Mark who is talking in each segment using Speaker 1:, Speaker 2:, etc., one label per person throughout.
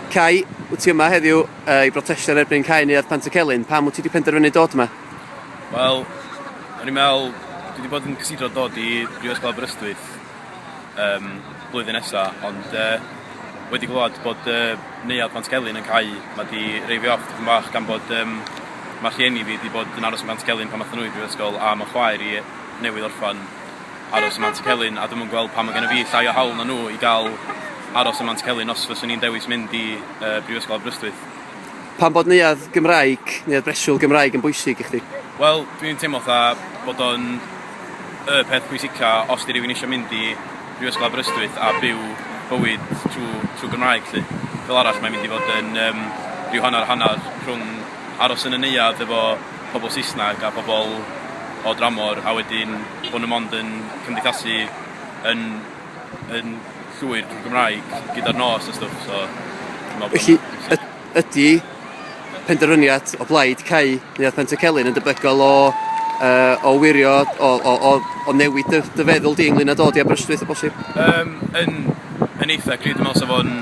Speaker 1: Cai, wyt ti yma heddiw uh, i brotestio yn erbyn cau neuadd Pant y Celyn? Pam wyt ti wedi penderfynu dod yma? Wel,
Speaker 2: o'n i'n meddwl, dwi wedi bod yn cysidro dod i Brifysgol Aberystwyth um, blwyddyn nesaf, ond uh, wedi glywed bod uh, neuadd Pant Celyn yn cau, mae wedi reifio off yn bach gan bod um, mae rhieni fi wedi bod yn aros yn Pant Celyn pan math nhw i Brifysgol a mae chwaer i newydd orffan aros ym Mantcelyn a dwi'm yn gweld pam ma' gennyf fi llai o hawl na nhw i gael aros ym Mantcelyn os fyswn i'n dewis mynd i yy Brifysgol Aberystwyth. Pam bod
Speaker 1: neuadd Gymraeg, neuadd breswyl Gymraeg yn bwysig i chdi? Wel, dwi'n teimlo
Speaker 2: fatha bod o'n y peth pwysica os 'di rywun isio mynd i Brifysgol Aberystwyth a byw bywyd trwy trwy Gymraeg 'lly. Fel arall mae'n mynd i fod yn yym rhyw hanner hanner rhwng aros yn y neuadd efo pobl Saesneg a pobl o dramor a wedyn bod nhw mond yn cymdeithasu yn, yn llwyr drwy Gymraeg gyda'r nos a stwff. So, Felly,
Speaker 1: ydy penderfyniad o blaid Cai neu Pent y Celyn yn debygol o, uh, o wirio, o, o, o, o newid dy, dy feddwl di ynglyn â dod i Aberystwyth o bosib? Um, yn,
Speaker 2: yn eitha, gyd, dwi'n meddwl sef o'n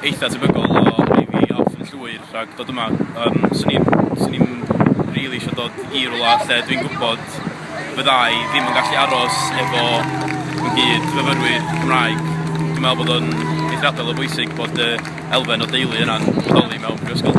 Speaker 2: eitha tebygol o rhaid i off yn hwyr rhag dod yma yym swn i'n swn i'n rili isio dod i rwla lle dwi'n gwbod fydda i ddim yn gallu aros efo fy nghyd fyfyrwyr Cymraeg. Dwi'n me'wl bod o'n eithriadol o bwysig bod y elfen o deulu yna'n bodoli mewn prifysgol.